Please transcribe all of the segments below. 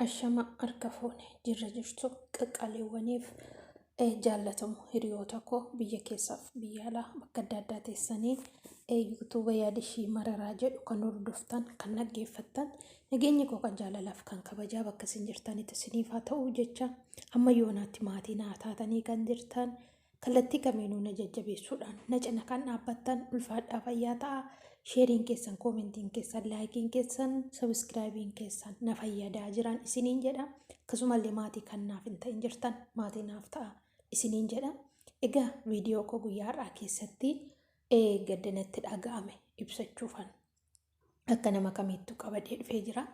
Ashama harka fuune jirra jirtu qaqqaaliiwwaniif eh, jaallatamu hiriyoota koo biyya keessaaf biyya alaa bakka adda addaa teessanii eh, yuutuuba yaada ishii mararaa jedhu kan hordoftan kan dhaggeeffattan nageenyi koo kan jaalalaaf kan kabajaa bakka isin jirtanitti isiniif haa ta'u jecha amma yoonaatti maatii naa taatanii kan jirtan Kallattii kamiinuu na jajjabeessuudhaan na cina kan dhaabbattan ulfaadhaa fayyaa ta'aa. Sheeriin keessan, koomentiin keessan, laayikiin keessan, sabiskiraayibiin keessan na fayyadaa jiran isiniin jedha. Akkasumallee maatii kan naaf hin ta'in jirtan maatii naaf ta'a isiniin jedha. Egaa viidiyoo koo guyyaa har'aa keessatti gadda natti dhaga'ame ibsachuufan. akka nama kamiittu qabadee dhufee jira.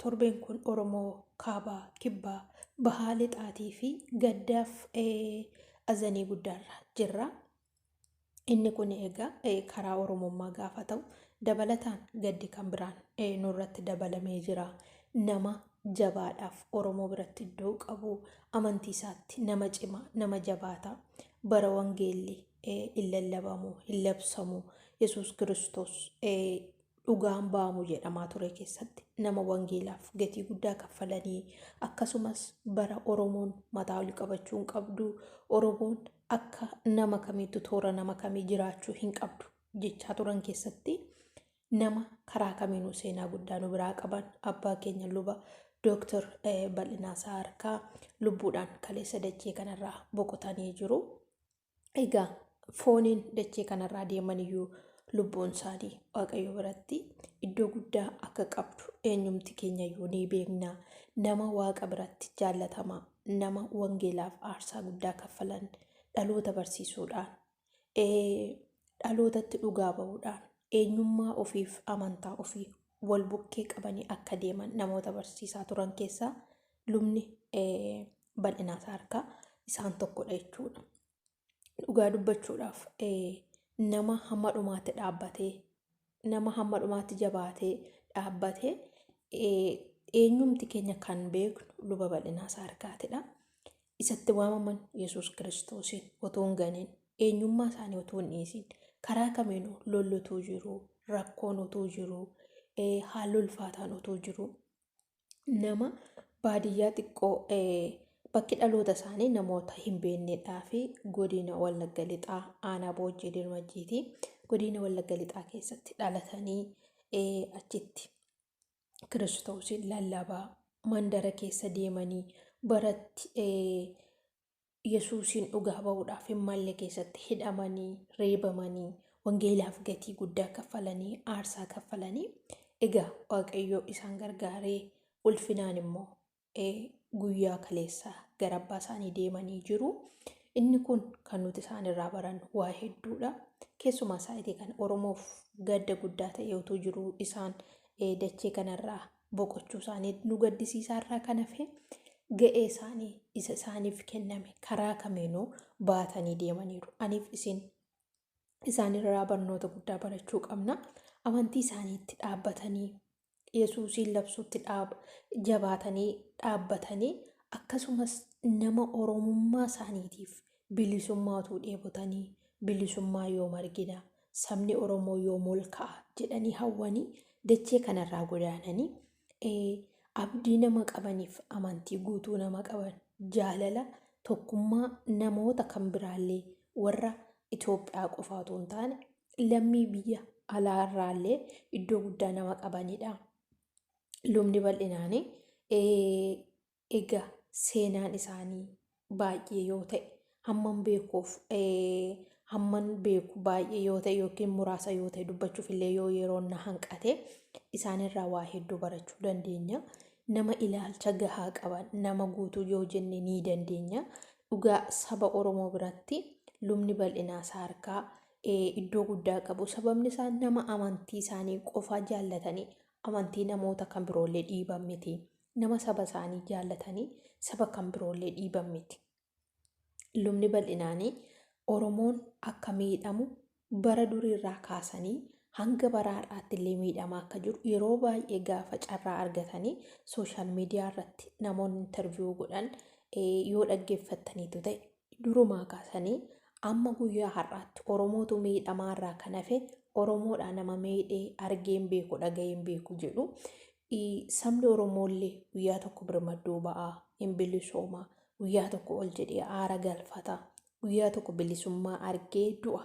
Torbeen kun Oromoo kaabaa, kibbaa, bahaa lixaatii fi gaddaaf azanii guddaarra jirra. Inni kun egaa karaa Oromummaa gaafa ta'u dabalataan gaddi kan biraan nurratti dabalamee jira. Nama jabaadhaaf Oromoo biratti iddoo qabu amantii isaatti nama cimaa nama jabaata bara wangeelli hin lallabamu, hin labsamu. Yesuus Kiristoos dhugaan ba'amu jedhamaa ture keessatti nama wangeelaaf gatii guddaa kaffalanii akkasumas bara Oromoon mataa ol qabachuu hin qabdu Oromoon akka nama kamiitu toora nama kamii jiraachuu hin qabdu jechaa turan keessatti nama karaa kamiinuu seenaa guddaa nu biraa qaban abbaa keenya luba Dooktar Bal'inaa Saarkaa lubbuudhaan kaleessa dachee kanarraa boqotanii jiru. egaa fooniin dachee kanarraa deeman iyyuu lubbuun isaanii waaqayyo biratti iddoo guddaa akka qabdu eenyumti keenya iyyuu ni beekna nama waaqa biratti jaallatama nama wangeelaaf aarsaa guddaa kaffalan dhaloota barsiisuudhaan ee, dhalootatti dhugaa ba'uudhaan eenyummaa ofiif amantaa ofii wal bukkee qabanii akka deeman namoota barsiisaa turan keessaa lubni bal'inaa isaa harkaa isaan tokkodha jechuudha. Dhugaa dubbachuudhaaf nama hamma dhumaatti dhaabbatee nama hamma dhumaatti jabaatee dhaabbatee eenyumti keenya kan beeknu luba bal'inaa isaa harkaatidha. Isatti waamaman Yesuus Kiristoosiin otoo hin ganiin eenyummaa isaanii otoo hin dhiisiin karaa kamiinuu lolli utuu jiru rakkoon utuu jiru haalli ulfaataan utuu jiru nama baadiyyaa xiqqoo bakki dhaloota isaanii namoota hin beeknedhaa fi godina Wallagga Lixaa aanaa Boojjii Dirmajjiiti. Godina Wallagga Lixaa keessatti dhalatanii achitti kiristoosiin lallabaa mandara keessa deemanii baratti Yesuusiin dhugaa ba'uudhaaf hin malle keessatti hidhamanii, reebamanii, wangeelaaf gatii guddaa kaffalanii, aarsaa kaffalanii, egaa Waaqayyoo isaan gargaaree ulfinaan immoo ee, guyyaa kaleessaa gara abbaa isaanii deemanii jiru. Inni kun kan nuti isaan irraa barannu waa hedduudha. Keessumaa saayitii kana Oromoof gadda guddaa ta'ee utuu jiruu isaan ee, dachee kanarraa boqochuu isaanii nu gaddisiisaa irraa kan hafe ga'ee isaanii isa isaaniif kenname karaa kamiinuu baatanii deemaniiru. Aniif isin isaanirraa barnoota guddaa barachuu qabna. Amantii isaaniitti dhaabbatanii Yesuusiin labsuutti dhaab- jabaatanii dhaabbatanii akkasumas nama Oromummaa isaaniitiif Bilisummaa utuu dheebotanii, bilisummaa yoom argina, sabni Oromoo yoom ol ka'a jedhanii hawwanii dachee kanarraa godaananii ee, abdii nama qabaniif amantii guutuu nama qaban jaalala tokkummaa namoota kan biraallee warra Itoophiyaa qofaa utuu hin taane lammii biyya alaa irraallee iddoo guddaa nama qabanidha. Lubni bal'inaanii ee, Ega seenaan isaanii baay'ee yoo ta'e hamman beekuuf hamman beeku baay'ee yoo ta'e yookiin muraasa yoo ta'e dubbachuuf illee yoo yeroon na hanqate isaanirraa waa hedduu barachuu dandeenya. Nama ilaalcha gahaa qaban nama guutuu yoo jenne ni dandeenya. Dhugaa saba Oromoo biratti lubni bal'inaa isaa harkaa iddoo guddaa qabu. Sababni isaa nama amantii isaanii qofaa jaallatanii amantii namoota kan biroollee dhiiban miti. nama saba isaanii jaallatanii saba kan biroollee dhiiban miti. Lubni bal'inaanii Oromoon akka miidhamu bara duriirraa kaasanii hanga bara har'aatti illee miidhamaa akka jiru yeroo baay'ee gaafa carraa argatanii sooshaal miidiyaa irratti namoonni intarviyuu godhan yoo dhaggeeffattaniitu ta'e durumaa kaasanii amma guyyaa har'aatti Oromootu miidhamaa irraa kan hafe Oromoodhaa nama miidhee argeen beeku dhaga'een beeku jedhu sabni Oromoollee guyyaa tokko birmadduu ba'aa hin bilisoomaa guyyaa tokko ol jedhee aara galfata guyyaa tokko bilisummaa argee du'a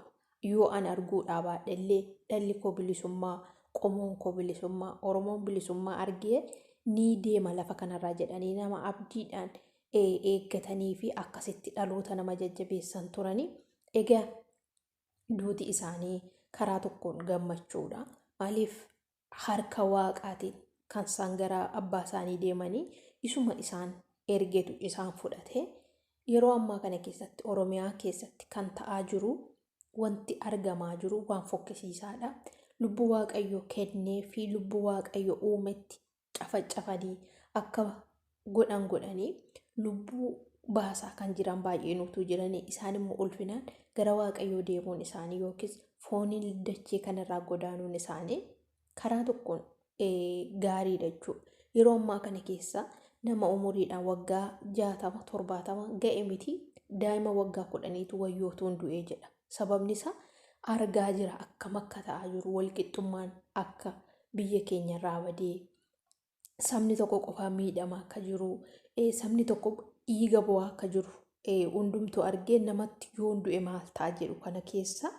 yoo an arguu dhaabaadhe illee dhalli koo bilisummaa qomoon koo bilisummaa Oromoon bilisummaa argee ni deema lafa kanarraa jedhanii nama abdiidhaan eeggatanii fi akkasitti dhaloota nama jajjabeessan turani. Egaa duuti isaanii karaa tokkoon gammachuudha. Maaliif harka waaqaatiin kan isaan gara abbaa isaanii deemanii isuma isaan ergetu isaan fudhate. Yeroo ammaa kana keessatti Oromiyaa keessatti kan ta'aa jiru wanti argamaa jiru waan fokkisiisaadha. Lubbuu Waaqayyo kennee fi lubbuu Waaqayyo uumetti cafacafanii akka godhan godhanii lubbuu baasaa kan jiran baay'een utuu jiranii isaan immoo ulfinaan gara waaqayyoo deemuun isaanii yookiis fooniin dachee kanarraa godaanuun isaanii karaa tokkoon gaarii dachuu yeroo ammaa kana keessa nama umuriidhaan waggaa jaatama torbaatama ga'e miti daa'ima waggaa kudhaniitu wayyootuun du'ee jedha. Sababni isaa argaa jira akkam akka ta'aa jiru walqixxummaan akka biyya keenya irraa badee sabni tokko qofaa miidhama akka jiru sabni tokko dhiiga bu'aa akka jiru hundumtuu argee namatti yoon du'e maal ta'a jedhu kana keessa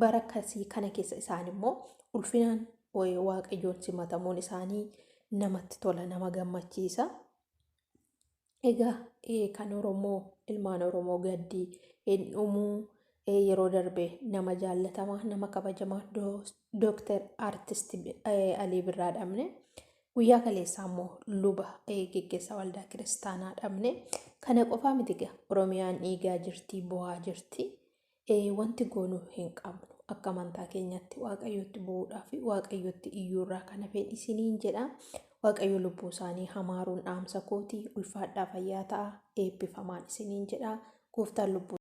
bara akkasii kana keessa isaan immoo ulfinaan waaqayyoon simatamuun isaanii namatti tola nama gammachiisa. Egaa kan Oromoo ilmaan Oromoo gaddi hin dhumuu yeroo darbe nama jaallatama nama kabajama dooktar artist Alii Birraa dhabne guyyaa kaleessaa immoo luba geggeessaa waldaa kiristaanaa dhabne kana qofaa miti gaa Oromiyaan dhiigaa jirti bu'aa jirti wanti goonu hin qabnu akka amantaa keenyatti waaqayyootti bu'uudhaa fi waaqayyootti iyyuurraa kan hafeen isiniin jedha waaqayyo lubbuu isaanii hamaaruun dhaamsa kooti ulfaadhaa fayyaa ta'a eebbifamaan isiniin jedha gooftaan lubbuu